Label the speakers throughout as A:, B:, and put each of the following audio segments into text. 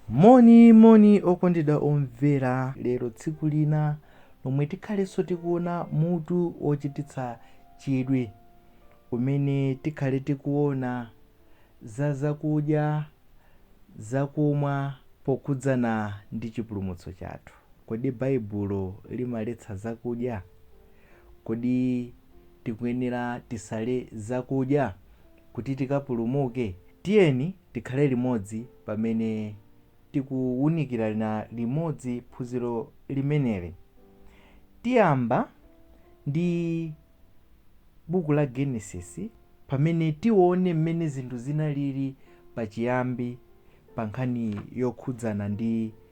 A: moni moni okondedwa omvera lero tsiku lina lomwe tikhalenso tikuona mutu wochititsa chidwi umene tikhale tikuona za zakudya zakumwa pokhudzana ndi chipulumutso chathu kodi baibulo limaletsa zakudya kodi tikuyenera tisale zakudya kuti tikapulumuke? Tiyeni tikhale limodzi pamene tikuwunikirana limodzi phunziro limeneli. Tiyamba ndi buku la Genesis pamene tione mmene zinthu zinalili pachiyambi pa nkhani yokhudzana ndi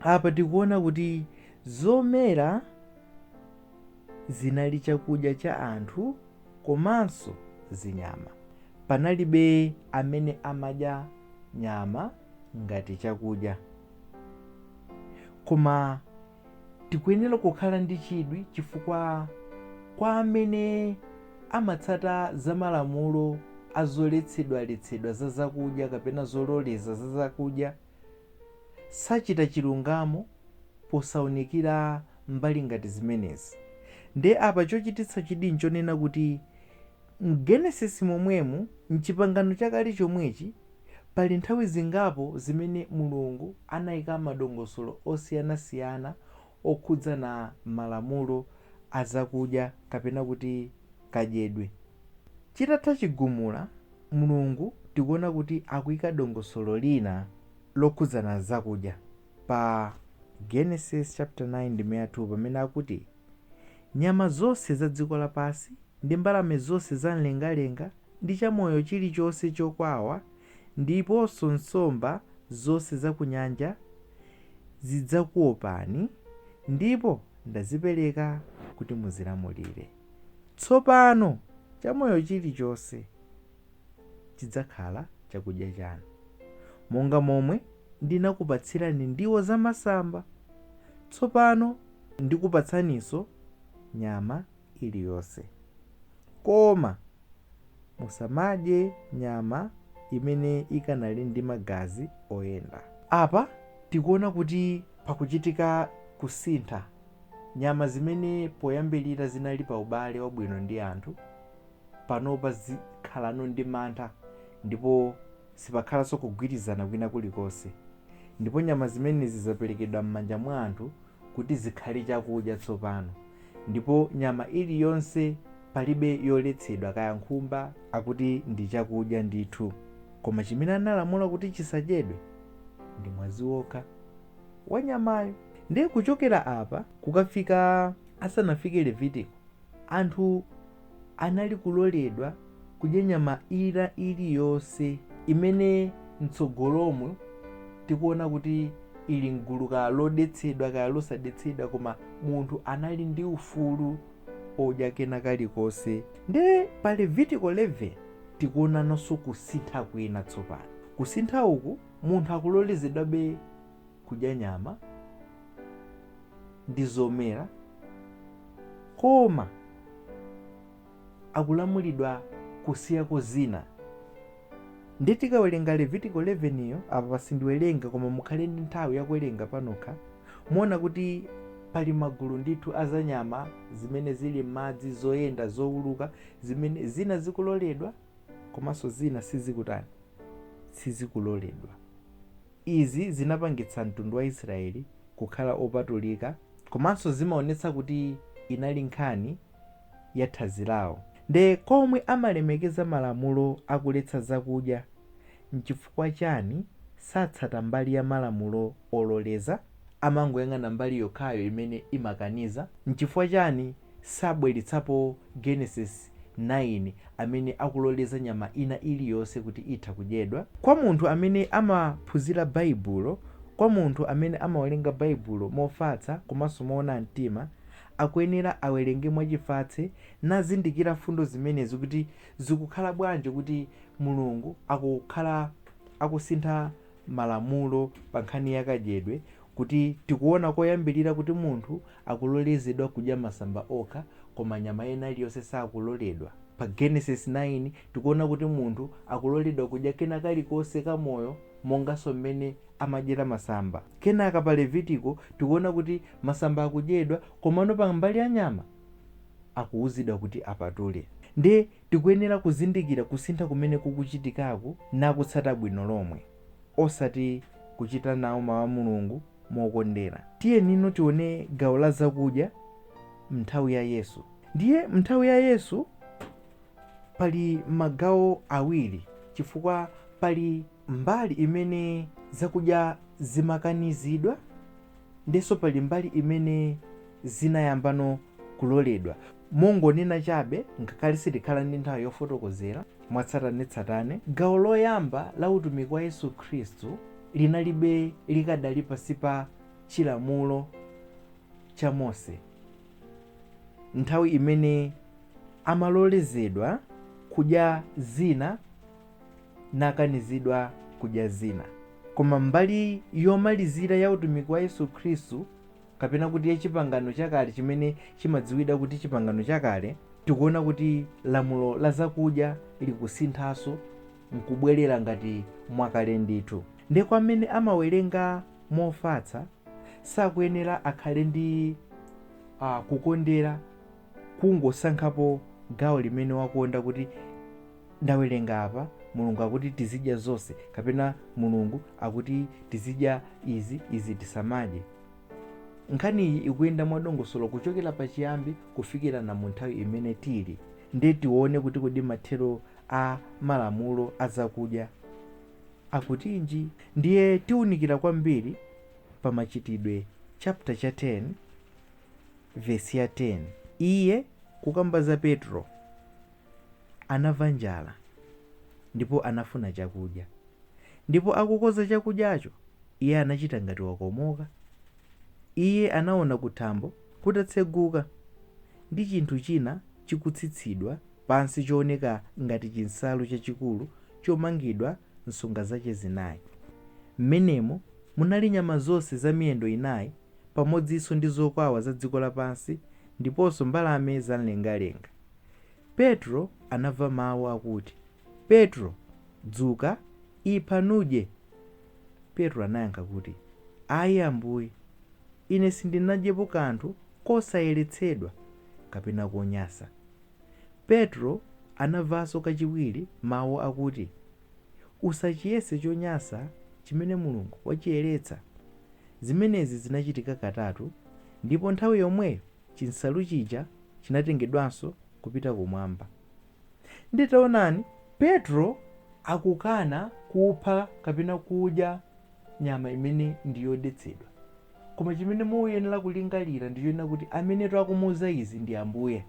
A: apa tikuona kuti zomera zinali chakudya cha anthu komanso zinyama panalibe amene amadya nyama ngati chakudya koma tikuyenera kukhala ndi chidwi chifukwa kwa amene amatsata za malamulo azoletsedwaletsedwa za zakudya kapena zololeza za zakudya sachita chilungamo posaunikira mbali ngati zimenezi. Ndiye apa chochititsa chidwi n'chonena kuti m'Genesis momwemu, m'Chipangano Chakale chomwechi, pali nthawi zingapo zimene Mulungu anaika madongosolo osiyanasiyana okhudzana malamulo a zakudya kapena kuti kadyedwe. Chitatha chigumula, Mulungu tikuona kuti akuika dongosolo lina lokhudzana zakudya pa Genesis chaputala 9 ndime ya 2 pamene akuti, Nyama zonse za dziko lapansi, ndi mbalame zonse za m'lengalenga, ndi chamoyo chilichonse chokwawa, ndiponso nsomba zonse za kunyanja zidzakuopani, ndipo ndazipereka kuti muzilamulire. Tsopano chamoyo chilichonse chidzakhala chakudya chanu. Monga momwe ndinakupatsirani ndiwo zamasamba, tsopano ndikupatsaninso nyama iliyonse. Koma Musamadye nyama imene ikanali ndi magazi oyenda. Apa tikuona kuti pakuchitika kusintha. Nyama zimene poyambirira zinali pa ubale wabwino ndi anthu, panopa zikhalano ndi mantha ndipo sipakhalanso kugwirizana kwina kulikonse. Ndipo nyama zimenezi zaperekedwa m'manja mwa anthu kuti zikhale chakudya tsopano. Ndipo nyama iliyonse, palibe yoletsedwa, kaya nkhumba. Akuti ndi chakudya ndithu. Koma chimene analamula kuti chisadyedwe ndi mwazi wokha wa nyamayo. Ndiye kuchokera apa kukafika asanafike Levitiko, anthu. anali kuloledwa kudya nyama ina iliyonse imene m'tsogolomu tikuona kuti ili m'gulu kaya lodetsedwa kaya losadetsedwa, koma munthu anali ndi ufulu odya kena kalikonse. Ndiye pa Levitiko 11 tikuonanso kusintha kwina tsopano. Kusintha uku, munthu akulolezedwabe kudya nyama ndi zomera koma akulamulidwa kusiyako zina nde tikawerenga levitiko 11 yo apa pasindiwerenga koma mukhale ndi nthawi yakuwerenga panokha muona kuti pali magulu ndithu azanyama zimene zili m'madzi zoyenda zowuluka zimene zina zikuloledwa komanso zina sizikutani sizikuloledwa Izi zinapangitsa mtundu wa Israeli kukhala opatulika komanso zimaonetsa kuti inali nkhani ya thanzi lawo. Nde kwa omwe amalemekeza malamulo akuletsa zakudya, nchifukwa chani satsata mbali ya malamulo ololeza, amangoyang'ana mbali yokhayo imene imakaniza? Nchifukwa chani sabweletsapo Genesis 9 amene akuloleza nyama ina iliyonse kuti itha kudyedwa? Kwa munthu amene amaphunzira Baibulo, kwa munthu amene amawerenga Baibulo mofatsa komanso moona mtima, akuyenera awerenge mwachifatse nazindikira mfundo zimenezi kuti zikukhala bwanji kuti Mulungu akukhala akusintha malamulo pa nkhani ya kadyedwe kuti tikuona koyambilira kuti munthu akulolezedwa kudya masamba okha koma nyama ina iliyonse sakuloledwa. Pa Genesis 9 tikuona kuti munthu akuloledwa kudya kena kalikonse ka moyo monganso mmene amadyera masamba. Kenaka pa Levitiko tikuona kuti masamba akudyedwa komano pa mbali ya nyama akuuzidwa kuti apatule. Ndiye Tikuyenera kuzindikira kusintha kumene kukuchitikaku nakutsata bwino lomwe, osati kuchita nawo Mau a Mulungu mokondera. Tiyeni no tione gawo la zakudya m'nthawi ya Yesu. Ndiye m'nthawi ya Yesu pali magawo awiri chifukwa pali mbali imene zakudya zimakanizidwa ndiyenso pali mbali imene zinayambano kuloledwa. Mongonena chabe, ngakhale sitikhala ndi nthawi yofotokozera mwatsatanetsatane, gawo loyamba la utumiki wa Yesu Khristu linali be likadali pansi pa Chilamulo cha Mose, nthawi imene amalolezedwa kudya zina nakanizidwa kudya zina. Koma mbali yomalizira ya utumiki wa Yesu Khristu kapena kuti ya Chipangano Chakale chimene chimadziwidwa kuti Chipangano Chakale, tikuona kuti lamulo la zakudya likusinthanso nkubwelera ngati mwakale ndithu. Nde kwa amene amawerenga mofatsa, sakuyenera akhale ndi a kukondera kungosankhapo gawo limene wakonda kuti ndawerenga apa mulungu akuti tizidya zonse kapena mulungu akuti tizidya izi izi tisamadye nkhaniyi ikuyenda mwadongosolo kuchokera pachiyambi kufikira na mu nthawi imene tili nde tione kuti kodi mathero a malamulo a zakudya akutinji ndiye tiunikira kwambiri pa machitidwe chapter cha 10 Vesi ya 10, Iye, kukamba za Petro, anamva njala, ndipo anafuna chakudya. Ndipo akukonza chakudyacho, iye anachita ngati wakomoka. Iye anaona kuthambo kutatseguka ndi chinthu china chikutsitsidwa pansi chooneka ngati chinsalu chachikulu chomangidwa nsonga zache zinayi. Mmenemo munali nyama zonse za miyendo inayi pamodzinso ndi zokwawa za dziko lapansi ndiponso mbalame za m'lengalenga. Petro anamva mawu akuti, Petro, dzuka, ipha nudye. Petro anayankha kuti, Ayi Ambuye, ine sindinadyepo kanthu kosayeretsedwa kapena konyasa. Petro anamvanso kachiwiri mawu akuti, Usachiyese chonyasa chimene Mulungu wachiyeretsa. Zimenezi zinachitika katatu ndipo nthawi yomweyo chinsalu chija chinatengedwanso kupita kumwamba. Ndiye taonani! Petro akukana kupha kapena kudya nyama imene ndi yodetsedwa. Koma chimene muyenera kulingalira ndi chonena kuti amenetu akumuuza izi ndi Ambuye.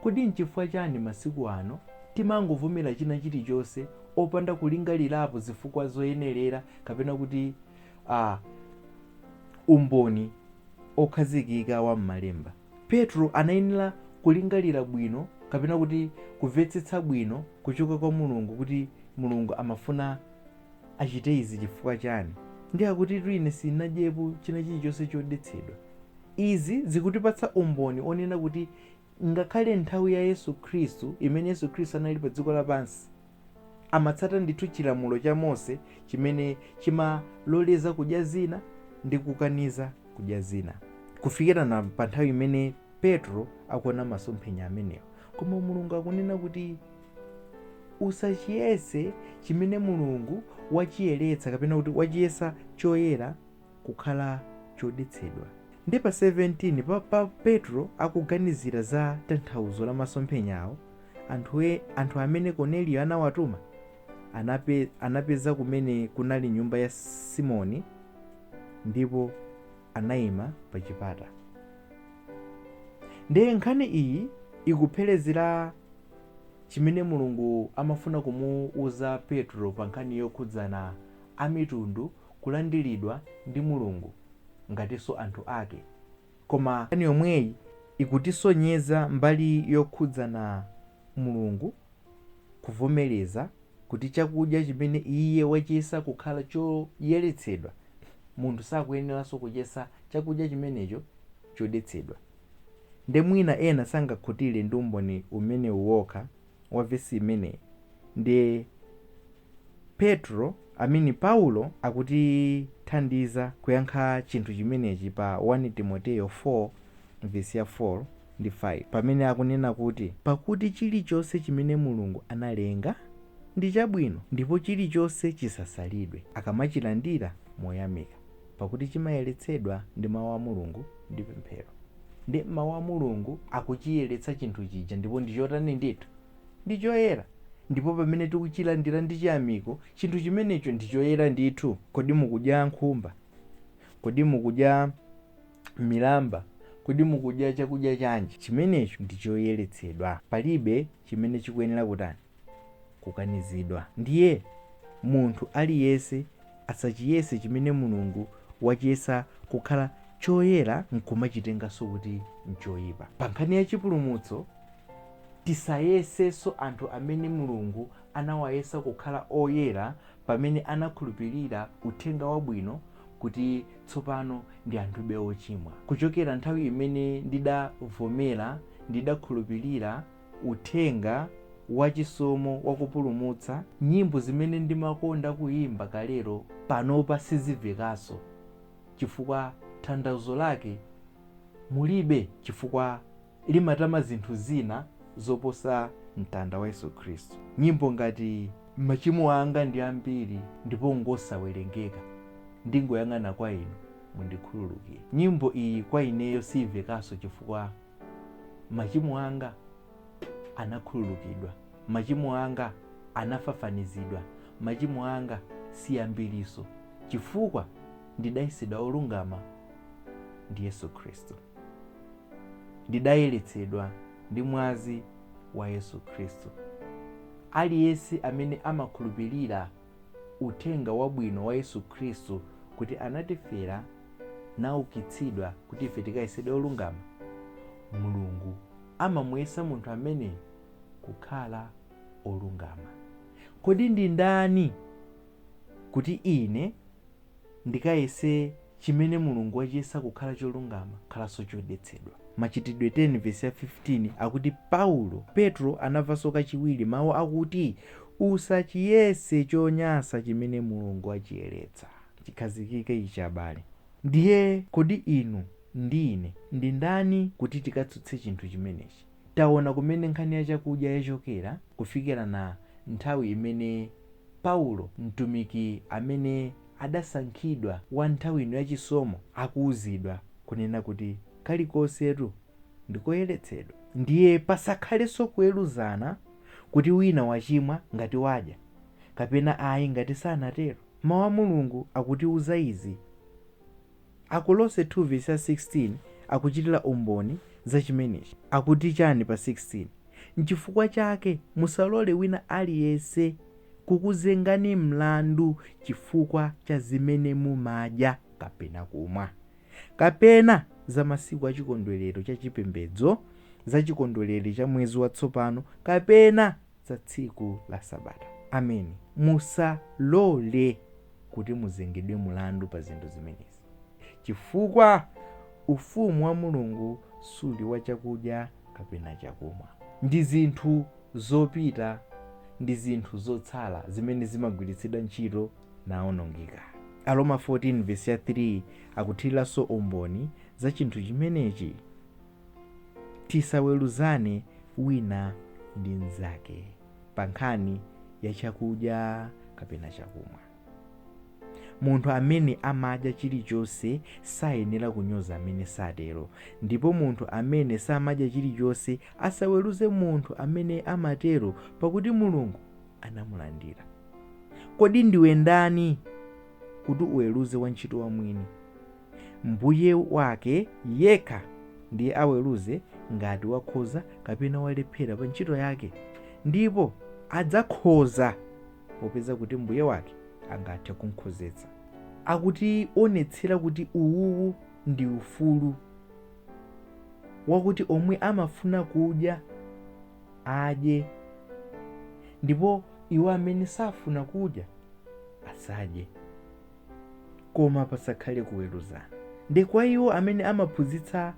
A: Kodi nchifukwa chani masiku ano timangovomera china chilichonse opanda kulingalirapo zifukwa zoyenerera kapena kuti a umboni okhazikika wa mmalemba? Petro anayenera kulingalira bwino kapena kuti kuvetsetsa bwino kuchoka kwa Mulungu kuti Mulungu amafuna achite izi chifukwa chani? Ndi akuti ine sinadyepo china chilichonse chodetsedwa. Izi zikutipatsa umboni onena kuti ngakhale nthawi ya Yesu Khristu imene Yesu Khristu anali pa dziko lapansi amatsata ndithu chilamulo cha Mose chimene chimaloleza kudya zina ndi kukaniza kudya zina kufikira pa nthawi imene Petro akuona masomphenya amenewa. Koma Mulungu akunena kuti Usachiyese chimene Mulungu wachiyeretsa kapena kuti wachiyesa choyera kukhala chodetsedwa. Nde pa 17 pa Petro akuganizira za tanthauzo la masomphenyawo, anthu amene Korneliyo anawatuma anapeza kumene kunali nyumba ya Simoni ndipo. anayima pa chipata. Ndiye nkhani iyi ikuphelezera chimene Mulungu amafuna kumuuza Petro pa nkhani yokhudzana amitundu kulandilidwa ndi Mulungu ngatinso anthu ake. Koma nkhani yomweyi ikutisonyeza mbali yokhudzana Mulungu kuvomereza kuti chakudya chimene Iye wachiyesa kukhala choyeretsedwa, munthu sakuyeneranso kuchiyesa chakudya chimenecho chodetsedwa. Nde mwina ena sangakhutire ndi umboni umenewu wokha wa vesi imeneyi, ndiye. Petro, I mean Paulo akutithandiza kuyankha chinthu chimenechi pa 1 Timoteo 4 vesi ya 4 ndi 5 pamene akunena kuti pakuti chilichonse chimene Mulungu analenga ndi chabwino ndipo chilichonse chisasalidwe akamachilandira moyamika pakuti chimayeretsedwa ndi mau a Mulungu ndi pemphero. Ndiye mau a Mulungu akuchiyeretsa chinthu chija ndipo ndi chotani ndithu! ndi choyera. Ndipo pamene tikuchilandira ndi chiyamiko chinthu chimenecho ndi choyera ndithu. Kodi mukudya nkhumba? Kodi mukudya milamba? Kodi mukudya chakudya chanji? Chimenecho ndi choyeretsedwa. Palibe chimene chikuyenera kutani? Kukanizidwa. Ndiye, munthu aliyense asachiyese chimene Mulungu wachiyesa kukhala choyera nkumachitenganso kuti nchoipa. Pa nkhani ya chipulumutso, Tisayesenso anthu amene Mulungu anawayesa kukhala oyera pamene anakhulupirira uthenga wabwino kuti tsopano ndi anthube ochimwa. Kuchokera nthawi imene ndidavomera, ndidakhulupirira uthenga wachisomo wakupulumutsa, nyimbo zimene ndimakonda kuyimba kalero panopa sizimvekanso chifukwa thandauzo lake mulibe chifukwa limatama zinthu zina zoposa mtanda wa Yesu Khristu. Nyimbo ngati Machimo anga ndi ambiri ndipo n'ngosawerengeka, Ndingoyang'ana kwa Inu, mundikhululukire. Nyimbo iyi kwa ineyo siimvekanso chifukwa machimo anga anakhululukidwa, machimo anga anafafanizidwa, machimo anga si ambirinso chifukwa ndidayesedwa olungama ndi Yesu Khristu. Ndidayeretsedwa ndi mwazi wa Yesu Khristu. Aliyense amene amakhulupirira uthenga wabwino wa Yesu Khristu kuti anatifera naukitsidwa kuti ife tikayesedwe olungama, Mulungu amamuyesa munthu ameneyo kukhala olungama. Kodi ndi ndani kuti ine ndikayese chimene Mulungu wachiyesa kukhala cholungama khalanso chodetsedwa. Machitidwe 10 vesi ya 15 akuti Paulo, Petro anamvanso kachiwiri mau akuti usachiyese chonyansa chimene Mulungu wachiyeretsa chikhazikike ichi abale. Ndiye kodi inu ndi ine ndi ndani kuti tikatsutse chinthu chimenechi? Taona kumene nkhani ya chakudya yachokera kufikira na nthawi imene Paulo, mtumiki amene adasankhidwa wa nthawi ino ya chisomo, akuuzidwa kunena kuti, Kalikonsetu ndi koyeretsedwa. Ndiye pasakhalenso kuweruzana kuti wina wachimwa ngati wadya, kapena ayi ngati sanatero. Mau a Mulungu akutiuza izi. Akolose 2 vesi ya 16 akuchitira umboni za chimenechi. Akuti chani pa 16? N'chifukwa chake musalole wina aliyense kukuzengani mlandu chifukwa cha zimene mumadya kapena kumwa, kapena za masiku a chikondwerero cha chipembedzo, za chikondwerero cha mwezi watsopano, kapena za tsiku la Sabata. Ameni. Musalole kuti muzengedwe mulandu pa zinthu zimenezi, chifukwa ufumu wa Mulungu suli wa chakudya kapena chakumwa. Ndi zinthu zopita ndi zinthu zotsala zimene zimagwiritsidwa ntchito naonongeka. Aroma 14 vesi ya 3 akuthiriranso umboni za chinthu chimenechi. Tisaweruzane wina ndi mnzake pa nkhani ya chakudya kapena chakumwa. Munthu amene amadya chilichonse sayenera kunyoza amene satero, ndipo munthu amene samadya chilichonse asaweruze munthu amene amatero, pakuti Mulungu anamulandira. Kodi ndiwe ndani kuti uweruze wantchito wa mwini? Mbuye wake yekha ndiye aweruze ngati wakhoza kapena walephera pa ntchito yake, ndipo adzakhoza popeza kuti Mbuye wake angathe kumkhozetsa. Akutionetsera kuti uwuwu ndi ufulu wakuti omwe amafuna kudya adye ndipo iwo amene safuna kudya asadye. koma pasakhale kuweruzana. Ndi kwa iwo amene amaphunzitsa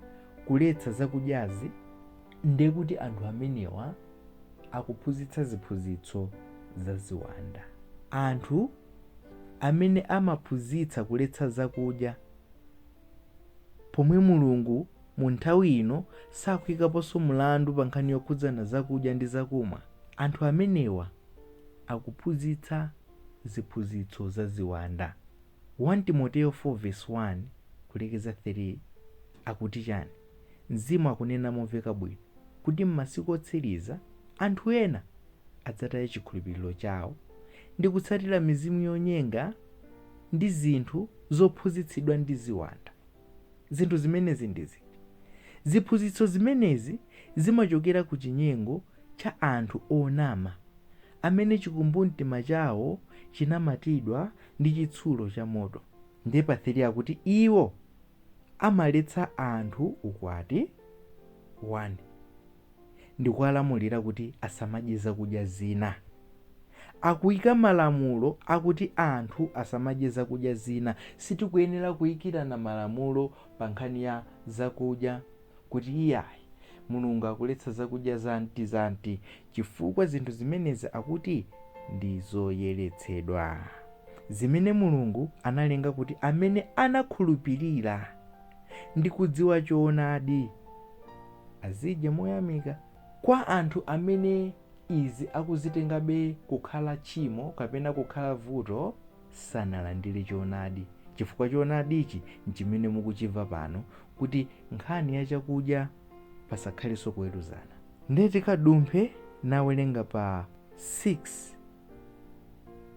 A: kuletsa zakudyazi, nde kuti anthu amenewa akuphunzitsa ziphunzitso za ziwanda. Anthu amene amaphunzitsa kuletsa zakudya, pomwe Mulungu mu nthawi ino sakuikaponso mlandu pa nkhani yokhudzana zakudya ndi zakumwa, anthu amenewa akuphunzitsa ziphunzitso za ziwanda. 1 Timoteo 4 vesi 1 kulekeza 3 akuti chani? Mzimu akunena momveka bwino kuti m'masiku otsiriza anthu ena adzataya chikhulupiriro chawo ndi kutsatira mizimu yonyenga ndi zinthu zophunzitsidwa ndi ziwanda. Zinthu zimenezi ndi ziti? Ziphunzitso zimenezi zimachokera ku chinyengo cha anthu onama amene chikumbumtima chawo chinamatidwa ndi chitsulo chamoto. Ndiye pa 3 akuti iwo amaletsa anthu ukwati, 1. ndi kuwalamulira kuti asamadye zakudya zina. Akuika malamulo akuti anthu asamadye zakudya zina. Sitikuyenera kuikirana malamulo pa nkhani ya zakudya kuti iyayi, Mulungu akuletsa zakudya zakuti-zakuti chifukwa zinthu zimenezi akuti ndi zoyeretsedwa, zimene Mulungu analenga kuti amene anakhulupirira ndi kudziwa choonadi. azidye moyamika. Kwa anthu amene izi akuzitengabe kukhala tchimo kapena kukhala vuto, sanalandire choonadi, chifukwa choonadichi n'chimene mukuchimva pano kuti nkhani ya chakudya pasakhalenso kuweruzana. Nde tikadumphe n'kuwerenga pa 6.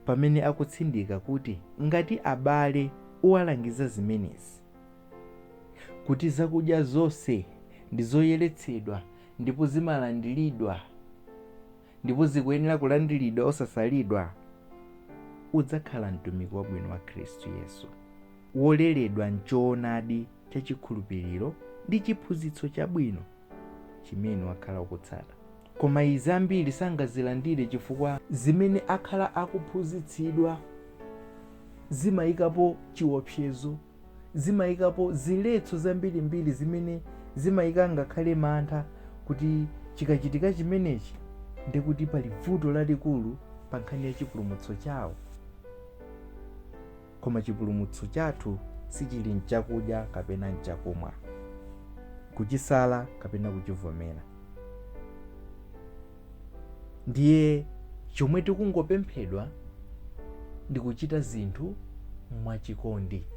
A: pamene akutsindika kuti ngati abale uwalangiza zimenezi, kuti zakudya zonse ndi zoyeretsedwa ndipo zimalandiridwa ndipo zikuyenera kulandiridwa osasalidwa, udzakhala mtumiki wabwino wa Khristu Yesu, woleredwa m'choonadi cha chikhulupiriro ndi chiphunzitso chabwino. chimene wakhala ukutsata. Koma izi ambiri sangazilandire chifukwa zimene akhala akuphunzitsidwa zimayikapo chiopsezo, zimayikapo ziletso zambirimbiri zimene zimayika ngakhale mantha kuti chikachitika chimenechi ndi kuti pali vuto lalikulu pa nkhani ya chipulumutso chawo. Koma chipulumutso chathu sichili m'chakudya kapena m'chakumwa, kuchisala kapena kuchivomera. Ndiye chomwe tikungopemphedwa ndi kuchita zinthu mwachikondi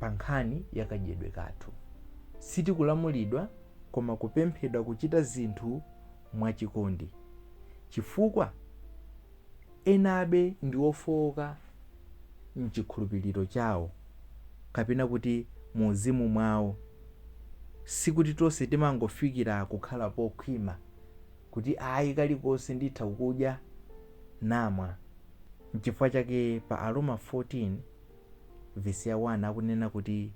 A: pa nkhani ya kadyedwe kathu. Sitikulamulidwa koma kupemphedwa kuchita zinthu mwachikondi. Chifukwa? enabe ndi ofooka m'chikhulupiriro chawo kapena kuti muuzimu mwawo. Sikuti tonse timangofikira kukhala pokhwima kuti ayi kalikonse nditha kudya namwa. N'chifukwa chake pa Aroma 14 vesi ya 1 akunena kuti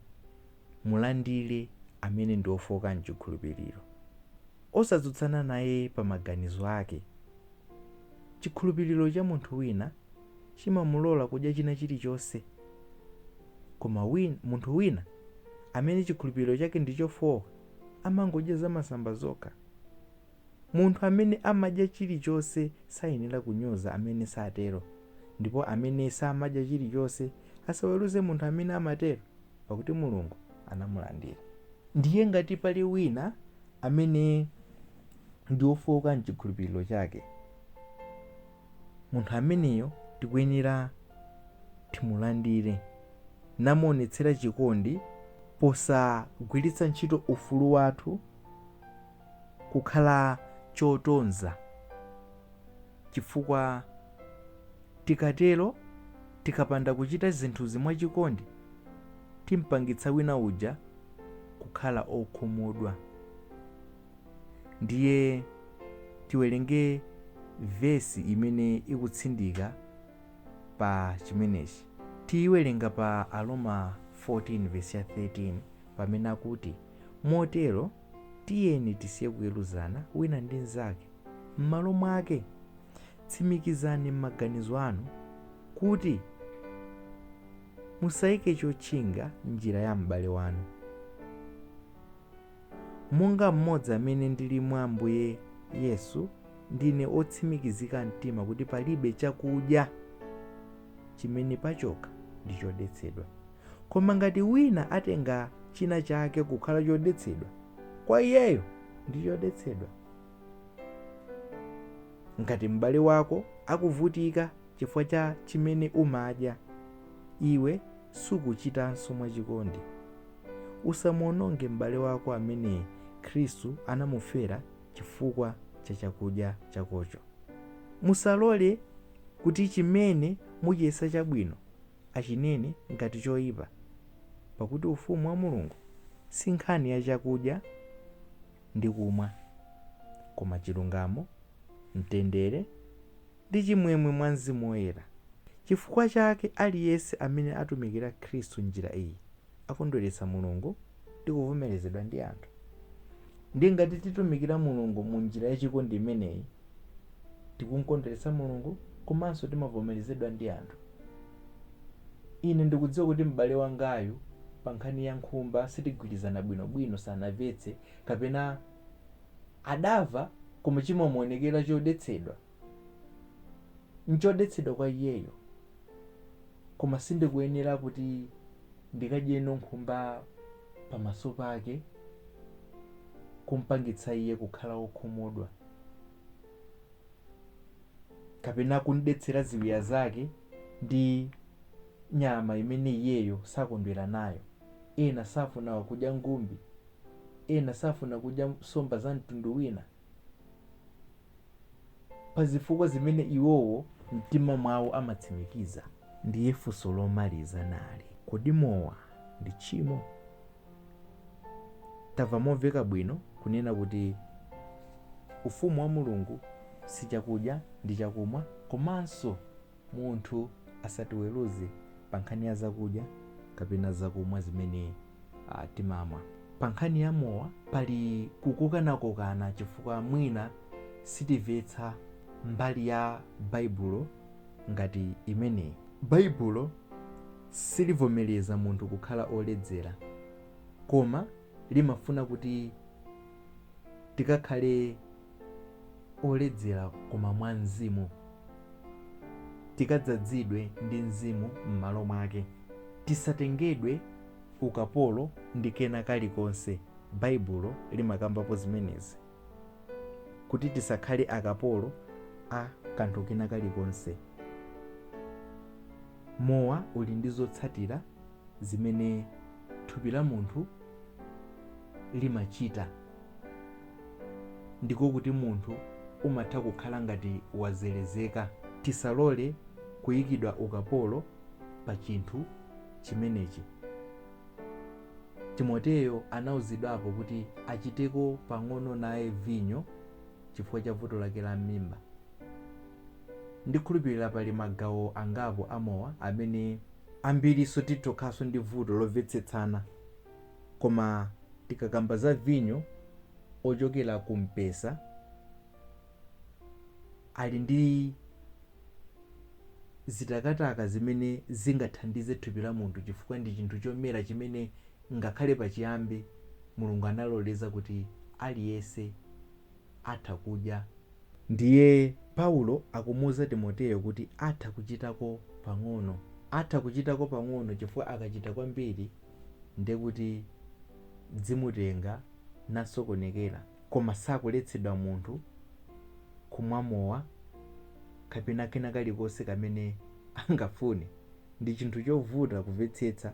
A: Mulandire amene ndi wofooka m'chikhulupiriro. Osatsutsana naye pa maganizo ake. Chikhulupiriro cha munthu wina chimamulola kudya china chilichonse. Koma munthu wina amene chikhulupiriro chake ndi chofooka amangodya zamasamba zokha. Munthu amene amadya chilichonse sayenera kunyoza amene satero, ndipo amene samadya chilichonse asaweruze munthu amene amatero. pakuti Mulungu anamulandira. Ndiye ngati pali wina amene ndi wofowoka m'chikhulupiriro chake, munthu ameneyo tikuyenera timulandire namuonetsera chikondi posagwiritsa ntchito ufulu wathu kukhala chotonza. chifukwa tikatero, tikapanda kuchita zinthuzi mwachikondi, timpangitsa wina uja kukhala okhumudwa. Ndiye tiwerenge vesi imene ikutsindika pa chimenechi. Tiiwerenga pa Aroma 14 vesi ya 13 pamene akuti, Motero. Tiyeni tisiye kuweruzana wina ndi mnzake. M'malo mwake, tsimikizani m'maganizo anu kuti musaike chotchinga m'njira ya m'bale wanu. Monga mmodzi amene ndili mwa Ambuye Yesu, ndine otsimikizika mtima kuti palibe chakudya chimene pachokha ndi chodetsedwa. Koma ngati wina atenga china chake kukhala chodetsedwa, kwa iyeyo ndi chodetsedwa. Ngati m'bale wako akuvutika chifukwa cha chimene umadya, iwe sukuchitanso mwachikondi. Usamuwononge m'bale wako amene Khristu anamufera chifukwa cha chakudya chakocho. Musalole kuti chimene muchiyesa chabwino achinene ngati choipa, pakuti Ufumu wa Mulungu si nkhani ya chakudya ndi kumwa, koma chilungamo, mtendere, ndi chimwemwe mwa Mzimu Woyera. Chifukwa chake, aliyense amene atumikira Khristu m'njira iyi akondweretsa Mulungu ndi kuvomerezedwa ndi anthu. Ndiye ngati titumikira Mulungu mu njira yachikondi imeneyi, tikumkondweretsa Mulungu komanso timavomerezedwa ndi anthu. Ine ndikudziwa kuti m'bale wangayu pa nkhani ya nkhumba sitigwirizana bwinobwino, sanamvetse, kapena adamva koma chimamuonekera chodetsedwa. N'chodetsedwa kwa iyeyo, koma sindikuyenera kuti ndikadyeno nkhumba pamaso pake kumpangitsa iye kukhala wokhumudwa, kapena kumdetsera ziwiya zake ndi nyama imene iyeyo sakondwera nayo. Ena safuna kudya ngumbi, ena safuna kudya nsomba za mtundu wina. pa zifukwa zimene iwowo m'mtima mwawo amatsimikiza. Ndiye funso lomaliza nali, Kodi mowa ndi tchimo? Tamva momveka bwino kunena kuti Ufumu wa Mulungu si chakudya ndi chakumwa komanso munthu asatiweruze pa nkhani ya zakudya kapena zakumwa zimene timamwa. Pa nkhani ya mowa pali kukokanakokana chifukwa mwina sitimvetsa mbali ya Baibulo ngati imeneyi. Baibulo silivomereza munthu kukhala oledzera koma limafuna kuti tikakhale oledzera koma mwa Mzimu. Tikadzadzidwe ndi Mzimu m'malo mwake. Tisatengedwe ukapolo ndi kena kalikonse, Baibulo limakambapo zimenezi, kuti tisakhale akapolo a kanthu kena kalikonse. Mowa uli ndi zotsatira zimene thupi la munthu limachita. ndiko kuti munthu umatha kukhala ngati wazelezeka. Tisalole kuikidwa ukapolo pa chinthu chimenechi. Timoteyo anauzidwapo kuti achiteko pang'ono naye vinyo chifukwa cha vuto lake la m'mimba. Ndikhulupirira pali magawo angapo a mowa amene ambirinso titokhalanso ndi vuto lomvetsetsana. Koma tikakamba za vinyo ochokera ku mpesa, ali ndi zitakataka zimene zingathandize thupi la munthu chifukwa ndi chinthu chomera chimene ngakhale pachiyambi Mulungu analoleza kuti aliyense atha kudya. Ndiye Paulo akumuuza Timoteyo kuti atha kuchitako pang'ono. Atha kuchitako pang'ono chifukwa akachita kwambiri ndiye kuti zimutenga nasokonekera. Koma sakuletsedwa munthu kumwa mowa kapena kena kalikonse kamene angafune. Ndi chinthu chovuta kumvetsetsa.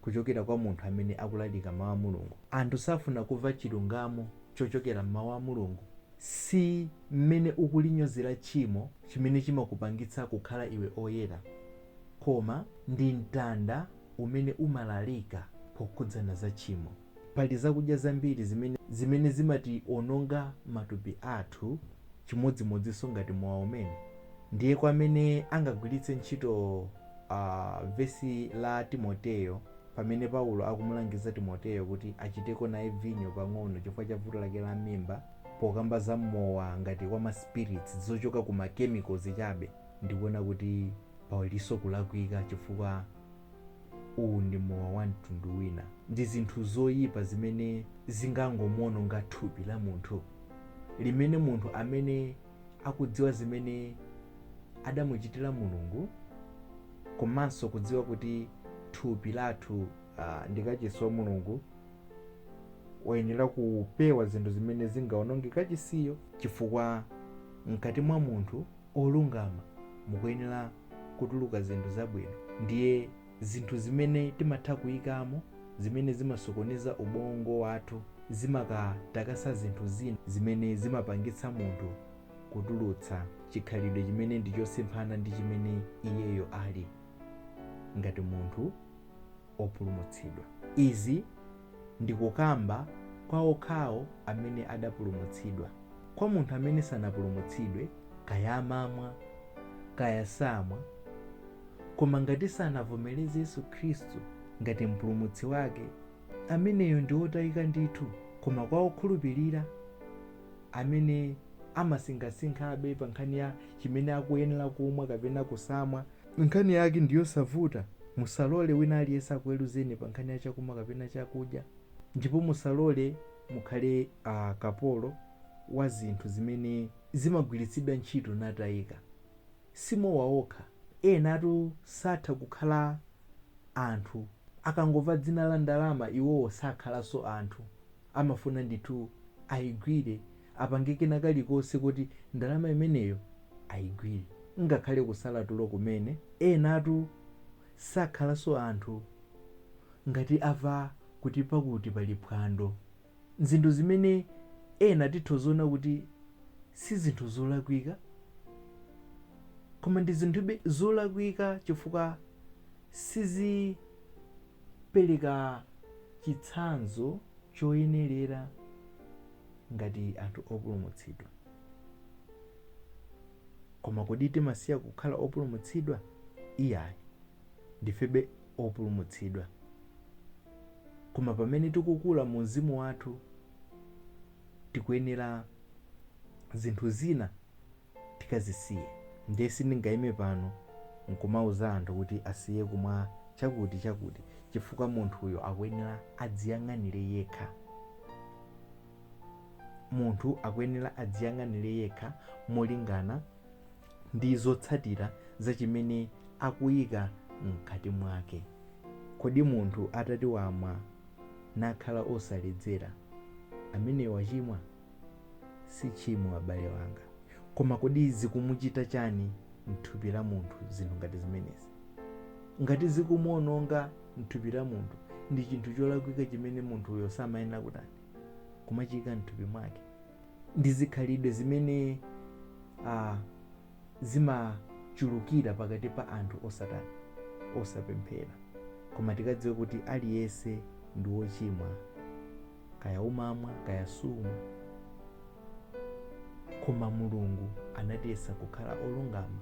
A: kuchokera kwa munthu amene akulalika Mau a Mulungu. Anthu safuna kumva chilungamo chochokera m'Mau a Mulungu. Si m'mene ukulinyozera tchimo chimene chimakupangitsa kukhala iwe oyera, koma ndi mtanda umenewo umalalika pokhudzana za tchimo. Pali zakudya zambiri zimene zimationonga matupi athu chimodzimodzinso ngati mowa umenewo. Ndiye kwa amene angagwiritse ntchito a, vesi la Timoteyo pamene Paulo akumulangiza Timoteyo kuti achiteko naye vinyo pang'ono chifukwa cha vuto lake la m'mimba, pokamba za mowa ngati wa ma spirits, zochoka ku ma chemicals chabe, ndikuona kuti palinso kulakwika chifukwa. Uwu ndi mowa wa mtundu wina. Ndi zinthu zoyipa zimene zingangomawononga thupi la munthu limene munthu amene akudziwa zimene adamuchitira Mulungu komanso kudziwa kuti thupi lathu uh, ndi kachisi wa Mulungu wayenera kupewa zinthu zimene zingawononge kachisiyo chifukwa mkati mwa munthu olungama mukuyenera kutuluka zinthu zabwino ndiye zinthu zimene timatha kuyikamo zimene zimasokoneza ubongo wathu zimatakasa zinthu zina zimene zimapangitsa munthu kutulutsa chikhalidwe chimene ndi chosemphana ndi chimene iyeyo ali ngati munthu opulumutsidwa. Izi ndikukamba kwa okhawo amene adapulumutsidwa. Kwa munthu amene sanapulumutsidwe, kaya amamwa, kaya samwa, koma ngati sanavomereze Yesu Khristu ngati Mpulumutsi wake, ameneyo ndi otayika ndithu. Koma kwa okhulupirira, amene amasinkhasinkhabe pa nkhani ya chimene akuyenera kumwa kapena kusamwa, Nkhani yake ndi yosavuta, Musalole wina aliyense akuweruzeni pa nkhani ya chakumwa kapena chakudya, ndipo musalole mukhale a kapolo wa zinthu zimene zimagwiritsidwa ntchito natayika. Si mowa okha, enatu satha kukhala anthu, akangomva dzina la ndalama iwowo sakhalanso anthu, amafuna ndithu ayigwire. apange kena kalikonse kuti ndalama imeneyo ayigwire. Ngakhale kusala tulo kumene, enatu sakhalanso anthu ngati amva kuti pakuti pali phwando. Nzinthu zimene ena titha kuona kuti si zinthu zolakwika koma ndi zinthube zolakwika chifukwa sizipereka chitsanzo choyenerera. ngati anthu opulumutsidwa. Koma kodi timasiya kukhala opulumutsidwa? Iyayi, ndifebe opulumutsidwa. Koma pamene tikukula mu mzimu wathu, tikuyenera zinthu zina tikazisiye ndiye sindingaime pano nkumauza anthu kuti asiye kumwa chakuti chakuti chifukwa munthuyo akuyenera adziyang'anire yekha munthu akuyenera adziyang'anire yekha molingana ndi zotsatira za chimene akuyika mkati mwake kodi munthu atati wamwa nakhala osaledzera ameneyo wachimwa si tchimo abale wanga koma kodi zikumuchita chani mthupi la munthu zinthu ngati zimenezi ngati zikumuononga mthupi la munthu ndi chinthu cholakwika chimene munthuyo samayenera kutani kumachiyika mthupi mwake ndi zikhalidwe zimene ah, zimachulukira pakati pa anthu osatani osapemphera koma tikadziwe kuti aliyense ndi wochimwa kaya umamwa kaya sumwa koma mulungu anatiyesa kukhala olungama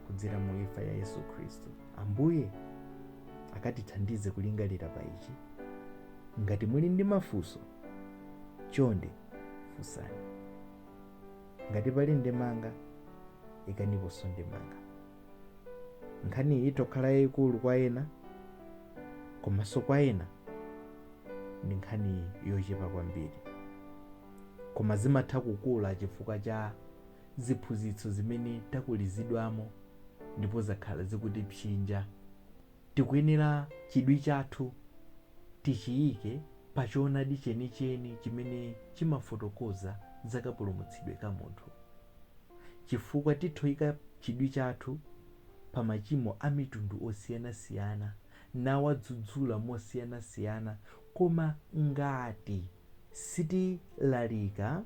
A: kudzera mu imfa ya yesu khristu ambuye akatithandize kulingalira pa ichi ngati muli ndi mafunso chonde funsani ngati pali ndemanga ikaniponso ndemanga nkhaniyi ithokhala yayikulu kwa ena komanso kwa ena ndi nkhani yochepa kwambiri koma zimatha kukula chifukwa cha ziphunzitso zimene takulizidwamo ndipo zakhala zikutipsinja tikuyenera chidwi chathu tichiyike pa choonadi chenicheni chimene chimafotokoza za kapulumutsidwe ka munthu chifukwa tithoika chidwi chathu pa machimo a mitundu osiyanasiyana nawadzudzula mosiyanasiyana koma ngati sitilalika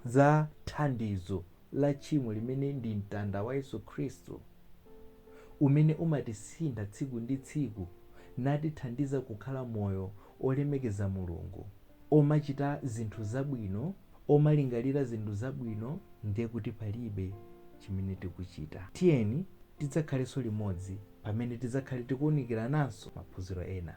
A: za thandizo la tchimo limene ndi mtanda wa Yesu Khristu umene umatisintha tsiku ndi tsiku natithandiza kukhala moyo olemekeza Mulungu omachita zinthu zabwino, omalingalira zinthu zabwino, ndiye kuti palibe chimene tikuchita. Tiyeni tidzakhalenso limodzi pamene tidzakhale tikuunikirananso maphunziro ena.